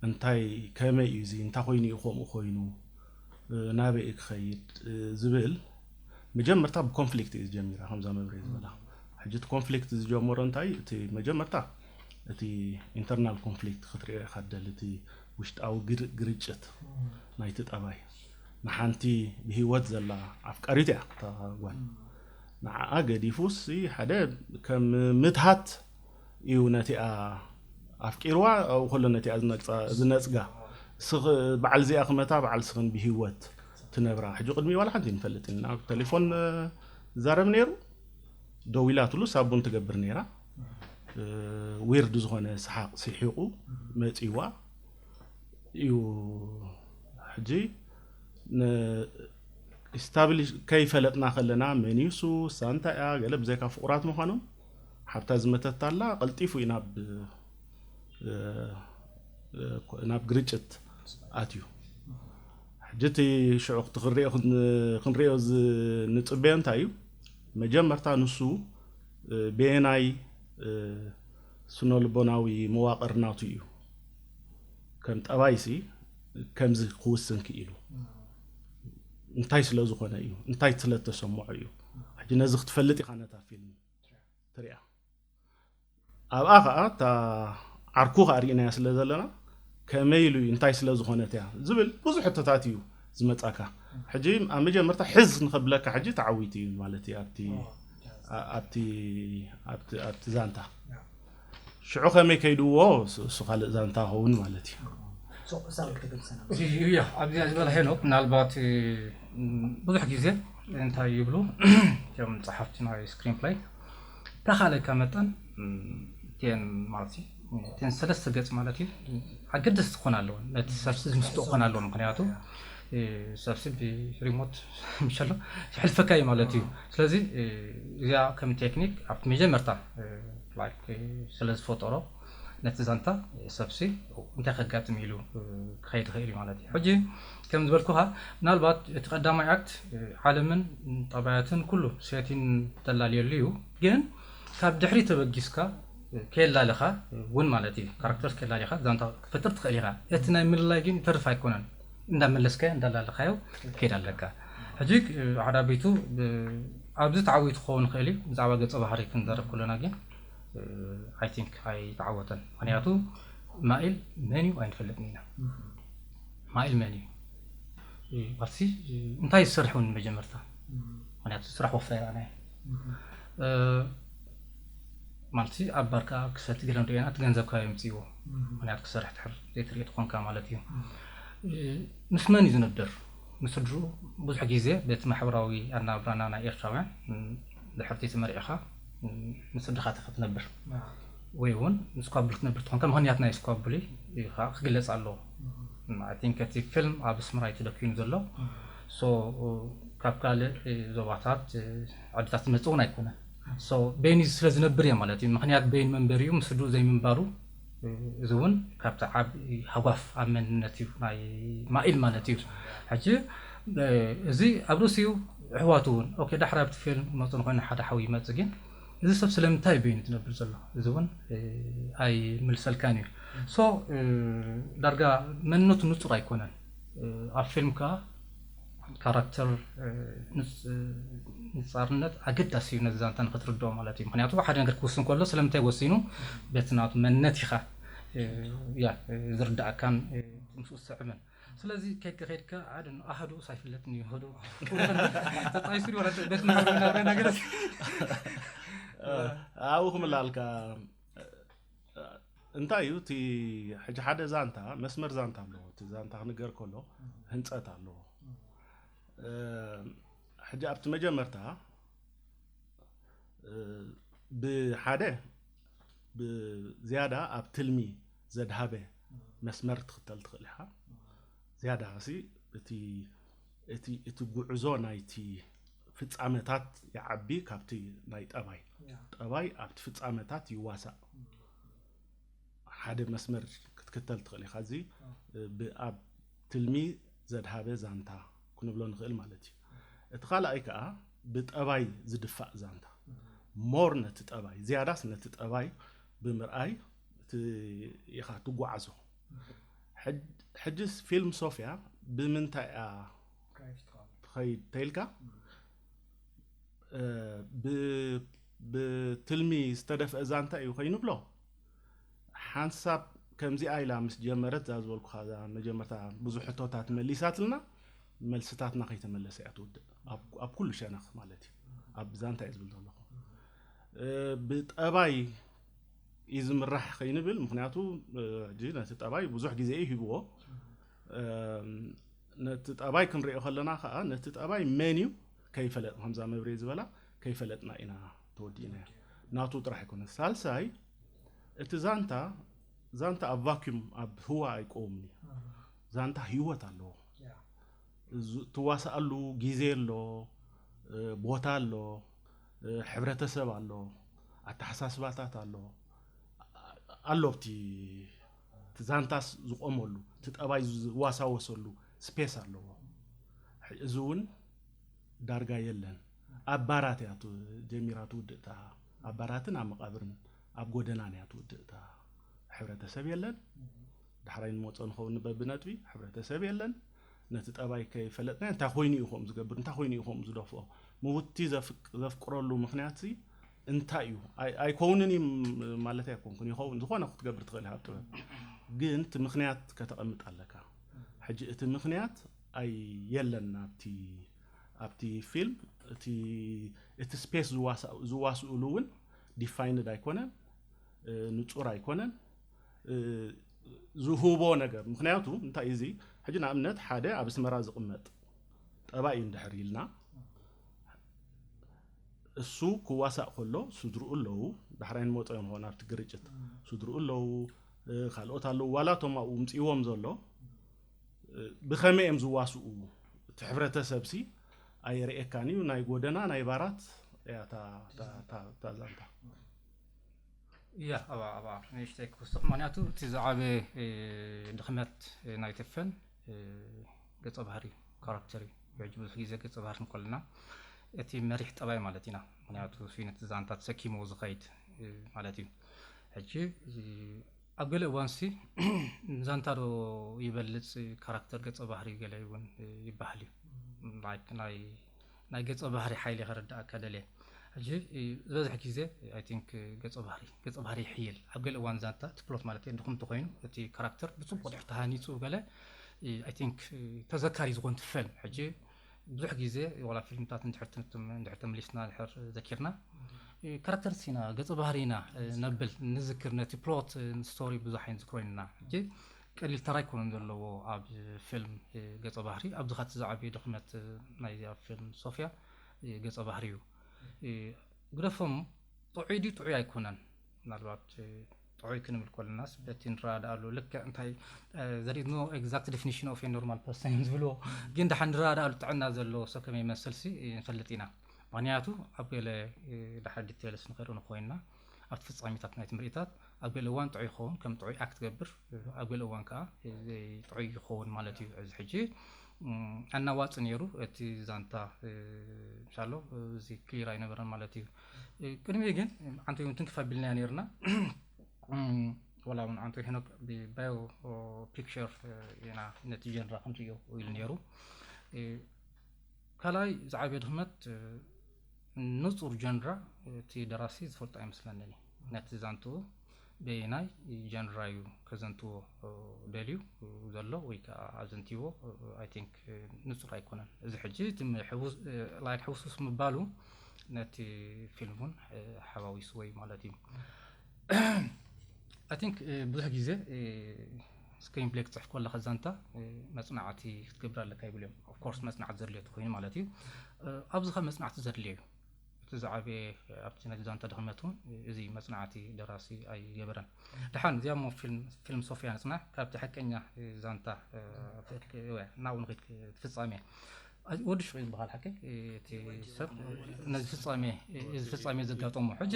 እንታይ ከመይ እዩ እዚ እንታይ ኮይኑ እዩ ከምኡ ኮይኑ ናበይ እዩ ክኸይድ ዝብል መጀመርታ ብኮንፍሊክት እዩ ዝጀሚራ ከምዛ መብሬ ዝበላ ሕጂ እቲ ኮንፍሊክት ዝጀመሮ እንታይ እቲ መጀመርታ እቲ ኢንተርናል ኮንፍሊክት ክትሪኦ ኢካ ትደሊ እቲ ውሽጣዊ ግርጭት ናይቲ ጠባይ ንሓንቲ ብሂወት ዘላ ኣፍቃሪት እያ እታ ጓል ንዓኣ ገዲፉስ ሓደ ከም ምትሃት እዩ ነቲኣ ኣፍቂርዋ ኣብኡ ከሎ ነቲኣ ዝነጽጋ ስኽ በዓል እዚኣ ክመታ በዓል ስኽን ብሂወት ትነብራ ሕጂ ቅድሚ ዋላ ሓንቲ ንፈልጥ ኢና ቴሌፎን ዛረብ ነይሩ ደዊላትሉ ሳቡን ትገብር ነይራ ዊርድ ዝኾነ ሰሓቕ ሲሒቑ መጺዋ እዩ ሕጂ ስታብሊሽ ከይፈለጥና ከለና መን እዩ ሱስ እንታይ እያ ገለ ብዘይካ ፍቑራት ምዃኖም ሓብታ ዝመተት ኣላ ቀልጢፉ እዩ ናብ ናብ ግርጭት ኣትዩ ሕጂ እቲ ሽዑ ክትክሪኦ ክንሪኦ ንፅበዮ እንታይ እዩ መጀመርታ ንሱ በየናይ ስነልቦናዊ መዋቕር ናቱ እዩ ከም ጠባይሲ ከምዚ ክውስን ክኢሉ እንታይ ስለ ዝኾነ እዩ እንታይ ስለ ተሰምዖ እዩ ሕጂ ነዚ ክትፈልጥ ኢኻ ነታ ፊልም ትሪኣ ኣብኣ ከዓ እታ ዓርኩ ከዓ ርኢናያ ስለ ዘለና ከመይ ኢሉ እዩ እንታይ ስለ ዝኾነት እያ ዝብል ብዙሕ ሕቶታት እዩ ዝመጻካ ሕጂ ኣብ መጀመርታ ሕዝ ንኸብለካ ሕጂ ተዓዊቱ እዩ ማለት እዩ ኣብቲ ኣብቲ ኣብቲ ኣብቲ ዛንታ ሽዑ ከመይ ከይድዎ እሱ ካልእ ዛንታ ኸውን ማለት እዩ ኣብዚ ዝበለ ሄኖክ ምናልባት ብዙሕ ግዜ እንታይ ይብሉ እቶም ጸሓፍቲ ናይ ስክሪን ፕላይ ተኻለካ መጠን ቴን ማለት እዩ እተን ሰለስተ ገጽ ማለት እዩ ኣገደስቲ ክኾና ኣለወን ነቲ ሰብሲ ዝምስጡ ክኾና ኣለወን ምክንያቱ ሰብሲ ብሪሞት ምሸሎ ይሕልፈካ እዩ ማለት እዩ ስለዚ እዚኣ ከም ቴክኒክ ኣብቲ መጀመርታ ላይክ ስለ ዝፈጠሮ ነቲ ዛንታ ሰብሲ እንታይ ከጋጥም ኢሉ ክኸይድ ይኽእል እዩ ማለት እዩ ሕጂ ከም ዝበልኩኻ ምናልባት እቲ ቀዳማይ ኣክት ዓለምን ጠባያትን ኩሉ ሴቲን ተላልየሉ እዩ ግን ካብ ድሕሪ ተበጊስካ ኬላልኻ ውን ማለት እዩ ካራክተርስ ኬላሊኻ ዛንታ ክትፈጥር ትኽእል ኢኻ እቲ ናይ ምልላይ ግን ይተርፍ ኣይኮነን እንዳ መለስካዮ እንዳ ላለኻዮ ክትከይድ ኣለካ ሕጂ ዓዳቢቱ ኣብዚ ተዓዊቱ ክኸውን ይኽእል እዩ ብዛዕባ ገጸ ባህሪ ክንዘረብ ከሎና ግን ኣይ ቲንክ ኣይተዓወተን ምክንያቱ ማኢል መን እዩ ኣይንፈልጥን ኢና ማኢል መን እዩ ባሲ እንታይ ዝሰርሕ እውን መጀመርታ ምክንያቱ ስራሕ ወፍራ ይረኣና እዩ ማለትሲ ኣብ ባርካ ክሰቲ ገለ ንሪኦ ኢና እቲ ገንዘብ ካበይ ኣምፂእዎ ምክንያቱ ክሰርሕ ድሕር ዘይትርኢ ተኾንካ ማለት እዩ ምስ መን እዩ ዝነብር ምስ ስድርኡ ብዙሕ ግዜ በቲ ማሕበራዊ ኣናብራና ናይ ኤርትራውያን ድሕርቲ ተመሪዕኻ ምስ ስድርኻ ተኸ ትነብር ወይ እውን ስኳብል ክትነብር ትኾንካ ምክንያት ናይ ስኳብሊ ከዓ ክግለፅ ኣለዎ ኣይቲንክ እቲ ፊልም ኣብ ኣስመራ እዩ ተደኪኑ ዘሎ ሶ ካብ ካልእ ዞባታት ዓድታት ዝመፅእ እውን ኣይኮነን So ቤኒ ስለ ዝነብር እየ ማለት እዩ ምኽንያት ቤኒ መንበሪኡ ምስ ስድርኡ ዘይምንባሩ እዚ እውን ካብቲ ዓቢ ሃጓፍ ኣብ መንነት እዩ ናይ ማኢል ማለት እዩ ሕጂ እዚ ኣብ ርእሲ እዩ ኣሕዋቱ እውን ኦኬ ዳሕራ ኣብቲ ፊልም ክመፁ ንኮይኑ ሓደ ሓዊ ይመፅ ግን እዚ ሰብ ስለምንታይ ቤኒ ዝነብር ዘሎ እዚ እውን ኣይምልሰልካን እዩ ሶ ዳርጋ መንነቱ ንፁር ኣይኮነን ኣብ ፊልም ከዓ ካራክተር ንጻርነት ኣገዳሲ እዩ ነዚ ዛንታ ንክትርድኦ ማለት እዩ ምክንያቱ ሓደ ነገር ክውስን ከሎ ስለምንታይ ወሲኑ በቲ ናቱ መንነት ኢኻ ያ ዝርዳእካን ምስኡ ዝስዕብን ስለዚ ከድካ ከድካ ሓደ ኣህዱ ሳይፍለጥን እዩ ህዱ ተጣይሱ ቤት ነገር ኣብኡ ክምላልካ እንታይ እዩ እቲ ሕጂ ሓደ ዛንታ መስመር ዛንታ ኣለዎ እቲ ዛንታ ክንገር ከሎ ህንፀት ኣለዎ ሕጂ ኣብቲ መጀመርታ ብሓደ ብዝያዳ ኣብ ትልሚ ዘድሃበ መስመር ትኽተል ትኽእል ኢኻ ዝያዳ ሲ እቲ እቲ እቲ ጉዕዞ ናይቲ ፍጻመታት ይዓቢ ካብቲ ናይ ጠባይ ጠባይ ኣብቲ ፍጻመታት ይዋሳእ ሓደ መስመር ክትክተል ትኽእል ኢኻ እዚ ብኣብ ትልሚ ዘድሃበ ዛንታ ክንብሎ ንኽእል ማለት እዩ እቲ ካልኣይ ከዓ ብጠባይ ዝድፋእ ዛንታ ሞር ነቲ ጠባይ ዝያዳስ ነቲ ጠባይ ብምርኣይ ኢኻ ትጓዓዞ ሕጅስ ፊልም ሶፍያ ብምንታይ እያ ትኸይድ ተይልካ ብትልሚ ዝተደፍአ ዛንታ እዩ ኮይኑ ብሎ ሓንሳብ ከምዚኣ ኢላ ምስ ጀመረት እዛ ዝበልኩኻ እዛ መጀመርታ ብዙሕ ሕቶታት መሊሳትልና መልስታትና ከይተመለሰ እያ ትውድእ ኣብ ኩሉ ሸነኽ ማለት እዩ ኣብ ዛንታ እዩ ዝብል ዘለኹ ብጠባይ እዩ ዝምራሕ ከይንብል ምክንያቱ ነቲ ጠባይ ብዙሕ ግዜ እዩ ሂብዎ ነቲ ጠባይ ክንሪኦ ከለና ከዓ ነቲ ጠባይ መን እዩ ከይፈለጥ ከምዛ መብሬ ዝበላ ከይፈለጥና ኢና ተወዲእና ናቱ ጥራሕ ኣይኮነ ሳልሳይ እቲ ዛንታ ዛንታ ኣብ ቫኪዩም ኣብ ህዋ ኣይቆውምን እዩ ዛንታ ህይወት ኣለዎ ትዋሳኣሉ ግዜ ኣሎ ቦታ ኣሎ ሕብረተሰብ ኣሎ ኣተሓሳስባታት ኣሎ ኣሎ ኣብቲ እቲ ዛንታስ ዝቆመሉ እቲ ጠባይ ዝዋሳወሰሉ ስፔስ ኣለዎ እዚ እውን ዳርጋ የለን ኣብ ባራት እያ ጀሚራ ትውድእ እታ ኣብ ባራትን ኣብ መቃብርን ኣብ ጎደናን እያ ትውድእ እታ ሕብረተሰብ የለን ዳሕራይ ንመፆ ንኸውን በብነጥቢ ሕብረተሰብ የለን ነቲ ጠባይ ከይፈለጥናዮ እንታይ ኮይኑ እዩ ከምኡ ዝገብር፣ እንታይ ኮይኑ እዩ ከምኡ ዝደፍኦ፣ ምውትቲ ዘፍቅረሉ ምኽንያትሲ እንታይ እዩ፣ ኣይኮውንን እዩ ማለተይ ኣይኮንኩን፣ ይኸውን፣ ዝኾነ ክትገብር ትኽእል ኢኻ ኣብ ጥበብ፣ ግን እቲ ምኽንያት ከተቐምጥ ኣለካ። ሕጂ እቲ ምኽንያት ኣይ የለን ኣብቲ ኣብቲ ፊልም እቲ እቲ ስፔስ ዝዋስእሉ እውን ዲፋይንድ ኣይኮነን፣ ንጹር ኣይኮነን። ዝሁቦ ነገር ምክንያቱ እንታይ እዩ እዚ ሕጂ ንኣብነት ሓደ ኣብ ኣስመራ ዝቕመጥ ጠባይ እዩ እንድሕር ኢልና እሱ ክዋሳእ ከሎ ስድርኡ ኣለዉ ዳሕራይ ንመፆ እዮም ኾን ኣብቲ ግርጭት ስድርኡ ኣለዉ ካልኦት ኣለዉ ዋላቶም ኣብኡ ምፅዎም ዘሎ ብኸመይ እዮም ዝዋስኡ እቲ ሕብረተሰብሲ ኣየርእየካን እዩ ናይ ጎደና ናይ ባራት እያ እታ ዛንታ እያ ኣብኣ ኣብኣ ንእሽተይ ክውስኽ ምክንያቱ እቲ ዝዓበ ድኽመት ናይ ተፈን ገፀ ባህሪ ካራክተር እዩ ሕጂ ብዙሕ ግዜ ገፀ ባህሪ ንኮለና እቲ መሪሕ ጠባይ ማለት ኢና ምክንያቱ ስዩነት ዛንታ ተሰኪምዎ ዝኸይድ ማለት እዩ ሕጂ ኣብ ገለ እዋንሲ ዛንታ ዶ ይበልፅ ካራክተር ገፀ ባህሪ ገለ እውን ይበሃል እዩ ናይ ናይ ገጸ ባህሪ ሓይሊ ከረድኣካ ደልየ ሕጂ ዝበዝሕ ግዜ ኣይ ቲንክ ገጸ ባህሪ ገጸ ባህሪ ይሕይል ኣብ ገለ እዋን ዛንታ እቲ ፕሎት ማለት ድኹም እንተኾይኑ እቲ ካራክተር ብጽቡቕ ድሕር ተሃኒጹ ገለ ኣይ ቲንክ ተዘካሪ ዝኾን ትፈል ሕጂ ብዙሕ ግዜ ዋላ ፊልምታት እንድሕር ተመሊስና ድሕር ዘኪርና ካራክተር ሲና ገጸ ባህሪና ነብል ንዝክር ነቲ ፕሎት ስቶሪ ብዙሕ ኣይንዝክሮ ኢና ሕጂ ቀሊል ተራ ኣይኮነን ዘለዎ ኣብ ፊልም ገጸ ባህሪ ኣብዚ ከኣ እቲ ዝዓበየ ድኽመት ናይዛ ፊልም ሶፍያ ገጸ ባህሪ እዩ ግደፎም ጥዑይ ድዩ ጥዑይ ኣይኮነን ምናልባት ጥዑይ ክንብል ኮለናስ በቲ ንረዳኣሉ ልክዕ እንታይ ዘር ኢዝ ኖ ኤግዛክት ዴፊኒሽን ኦፍ ኤ ኖርማል ፐርሰን እዮም ዝብልዎ ግን ድሓን ንረዳኣሉ ጥዕና ዘለዎ ሰብ ከመይ ይመስልሲ ንፈልጥ ኢና ምክንያቱ ኣብ ገለ ድሓር ዲቴልስ ንክርኢ ንኮይንና ኣብቲ ፍጻሜታት ናይቲ ምርኢታት ኣብ ገለ እዋን ጥዑይ ክኸውን ከም ጥዑይ ኣክት ገብር ኣብ ገለ እዋን ከዓ ዘይጥዑይ ይኸውን ማለት እዩ እዚ ሕጂ ኣናዋጽ ነይሩ እቲ ዛንታ ምሳሎ እዚ ክሊር ኣይነበረን ማለት እዩ ቅድሚ ግን ዓንተ እውን ትንክፍ ኣቢልናያ ነይርና ወላ እውን ዓንተ ሄኖክ ብባዮ ፒክቸር ኢና ነቲ ጀንራ ከምዚ እዩ ኢሉ ነይሩ ካልኣይ ዝዓበየ ድኽመት ንጹር ጀንራ እቲ ደራሲ ዝፈልጦ ኣይመስለንን እዩ። ነቲ ዛንትኡ በየናይ ጀንራ እዩ ከዘንትዎ ደልዩ ዘሎ ወይ ከኣ ኣዘንትይዎ ኣይ ቲንክ ንጹር ኣይኮነን። እዚ ሕጂ እቲ ላይክ ሕውስውስ ምባሉ ነቲ ፊልም እውን ሓዋዊስዎ እዩ ማለት እዩ። ኣይ ቲንክ ብዙሕ ግዜ ስክሪን ፕሌይ ክትፅሕፍ ከለካ ዛንታ መፅናዕቲ ክትገብር ኣለካ ይብሉ እዮም ኦፍኮርስ መፅናዕቲ ዘድልዮ ኮይኑ ማለት እዩ ኣብዚ ካብ መፅናዕቲ ዘድልዮ እዩ እቲ ዝዓበየ ኣብቲ ናይ ዛንታ ድኽመት እውን እዚ መፅናዕቲ ደራሲ ኣይገበረን ድሓን እዚኣ ሞ ፊልም ሶፊያ ንፅናዕ ካብቲ ሓቀኛ ዛንታ ናብኡ ንክድ ትፍፃሜ ወዲ ሽቁ እዩ በሃል ሓቂ እቲ ሰብ ነዚ ፍፃሜ እዚ ፍፃሜ ዘጋጠሞ ሕጂ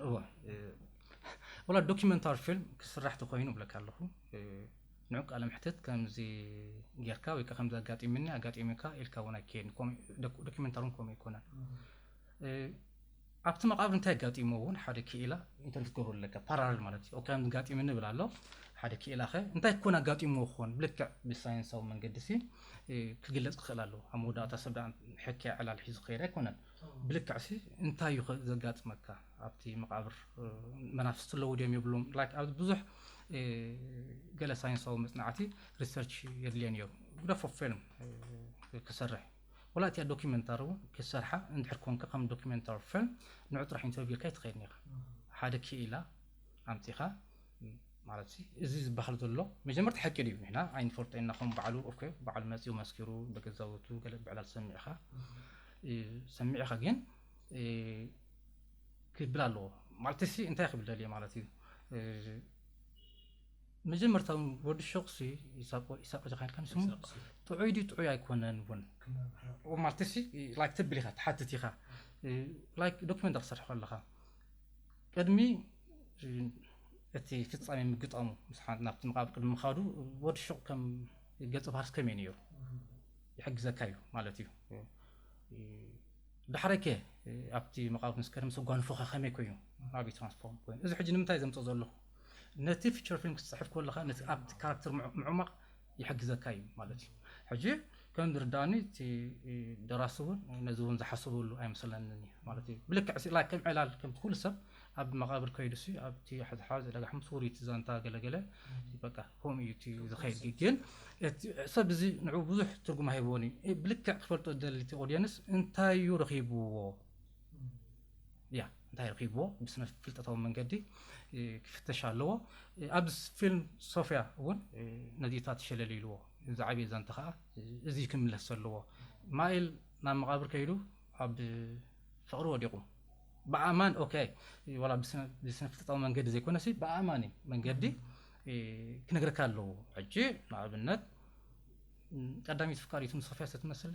እወ ወላ ዶኪመንታሪ ፊልም ክስራሕ ተኮይኑ ብለካ ኣለኹ ንዑ ቃለ ምሕትት ከምዚ ጌርካ ወይ ከዓ ከምዚ ኣጋጢሙኒ ኣጋጢሙካ ኢልካ እውን ኣይከየድን ዶኪመንታሪ እውን ከምኡ ኣይኮነን ኣብቲ መቃብር እንታይ ኣጋጢምዎ እውን ሓደ ክኢላ ኢንተርቪው ክትገብረሉ ኣለካ ፓራለል ማለት እዩ ኦኬ ኣጋጢሙኒ ይብል ኣሎ ሓደ ክኢላ ከ እንታይ ኮን ኣጋጢምዎ ክኾን ብልክዕ ብሳይንሳዊ መንገዲ ሲ ክግለጽ ክኽእል ኣለዎ ኣብ መወዳእታ ሰብ ደኣ ሕክያ ዕላል ሒዙ ክኸይድ ኣይኮነን ብልክዕ ሲ እንታይ እዩ ዘጋጥመካ ኣብቲ መቃብር መናፍስቲ ኣለዉ ድዮም የብሎም ላይክ ኣብዚ ብዙሕ ገለ ሳይንሳዊ መጽናዕቲ ሪሰርች የድልዮ ነይሩ ግደፎ ፊልም ክሰርሕ ወላ እቲኣ ዶኩመንታሪ ውን ክትሰርሓ እንድሕር ኮንካ ከም ዶኩመንታሪ ፊልም ንዑ ጥራሕ ኢንተርቪው ኢልካ ኣይትኸይድን ኢኻ ሓደ ክኢላ ኣምጺኻ ማለት ሲ እዚ ዝበሃል ዘሎ መጀመርታ ሓቂ ድዩ ንሕና ኣይንፈልጦ ኢና ከም በዓሉ ኦኬ በዓሉ መጺኡ መስኪሩ በገዛውቱ ገለ ብዕላል ሰሚዕኻ ሰሚዕኻ ግን ክብል ኣለዎ ማለት ሲ እንታይ ክብል ደልየ ማለት እዩ መጀመርታ ውን ወዲ ሹቕ ሲ ኢሳቆ ኢሳቆ ዲኻ ኢልካኒ ስሙ ኢሳቆ ሲ። ጥዑይ ድዩ ጥዑይ ኣይኮነን ውን ክመርሖ ማለት ሲ ላይክ ተብል ኢኻ ትሓትት ኢኻ እ፣ ላይክ ዶክመንት ክትሰርሕ ከለኻ ቅድሚ እ፣ እቲ ፍጻሜ ምግጣሙ ምስ ሓ- ናብቲ መቓብር ቅድሚ ምኻዱ ወዲ ሹቕ ከም ገጸ ባህርስ ከመይ ነይሩ ይሕግዘካ እዩ ማለት እዩ እ፣ እ፣ ዳሕራይ ከ እ፣ ኣብቲ መቓብር ምስ ከደ ምስ ኣጓንፎኻ ከመይ ኮይኑ ኣብይ ትራንስፎርም ኮይኑ እዚ ሕጂ ንምንታይ ዘምጽኦ ዘለኹ ነቲ ፊቸር ፊልም ክትጽሕፍ ከለኻ ነቲ ኣብቲ ካራክተር ምዕማቕ ይሕግዘካ እዩ ማለት እዩ። ሕጂ ከም ዝርድኣኒ እቲ ደራሲ እውን ነዚ እውን ዝሓሰበሉ ኣይመስለንን እዩ ማለት እዩ። ብልክዕ ስኢላ ከም ዕላል ከምቲ ኩሉ ሰብ ኣብ መቓብር ከይዱ ሲ ኣብቲ ሓዝሓዝ ዕዳጋ ሓሙስ ውሩይ እቲ ዛንታ ገለገለ በቃ ከምኡ እዩ እቲ ዝኸይድ ግን ሰብ እዚ ንዕኡ ብዙሕ ትርጉም ሃይቦን እዩ ብልክዕ ክፈልጦ ዝደሊ እቲ ኦድየንስ እንታይ እዩ ረኺብዎ እያ እንታይ ረኺብዎ ብስነ ፍልጠታዊ መንገዲ ክፍተሽ ኣለዎ ኣብ ፊልም ሶፍያ እውን ነዚታት ሸለል ኢልዎ ዝዓብየ ዛንታ ከዓ እዚ ክምለስ ዘለዎ ማይል ናብ መቓብር ከይዱ ኣብ ፍቕሪ ወዲቑ ብኣማን ኦኬ ዋላ ብስነፍልጠታዊ መንገዲ ዘይኮነሲ ብኣማኒ መንገዲ ክነግረካ ኣለዎ ሕጂ ንኣብነት ቀዳሚት ፍቃሪቱ ንሶፍያ ስትመስለ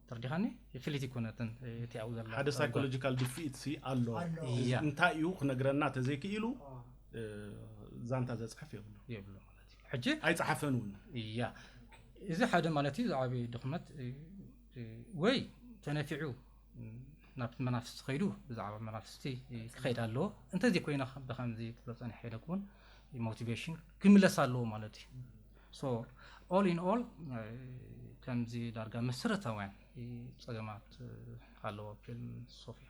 ተርዲኻኒ ፍልይቲ ኩነትን እቲ ኣብኡ ዘሎ ሓደ ሳይኮሎጂካል ድፍኢት ሲ ኣሎ እንታይ እዩ ክነግረና ተዘይክኢሉ ዛንታ ዘፅሕፍ የብሉ የብሉ ማለት እዩ ሕጂ ኣይፀሓፈን እውን እያ እዚ ሓደ ማለት እዩ ዝዓበ ድኽመት ወይ ተነፊዑ ናብቲ መናፍስቲ ከይዱ ብዛዕባ መናፍስቲ ክኸይድ ኣለዎ እንተዘይኮይና ብከምዚ ክብሎ ፀኒሐ ኢለ ክውን ሞቲቬሽን ክምለስ ኣለዎ ማለት እዩ So all in all ከምዚ ዳርጋ መሰረታውያን ጸገማት ኣለዎ ፊልም ሶፍያ።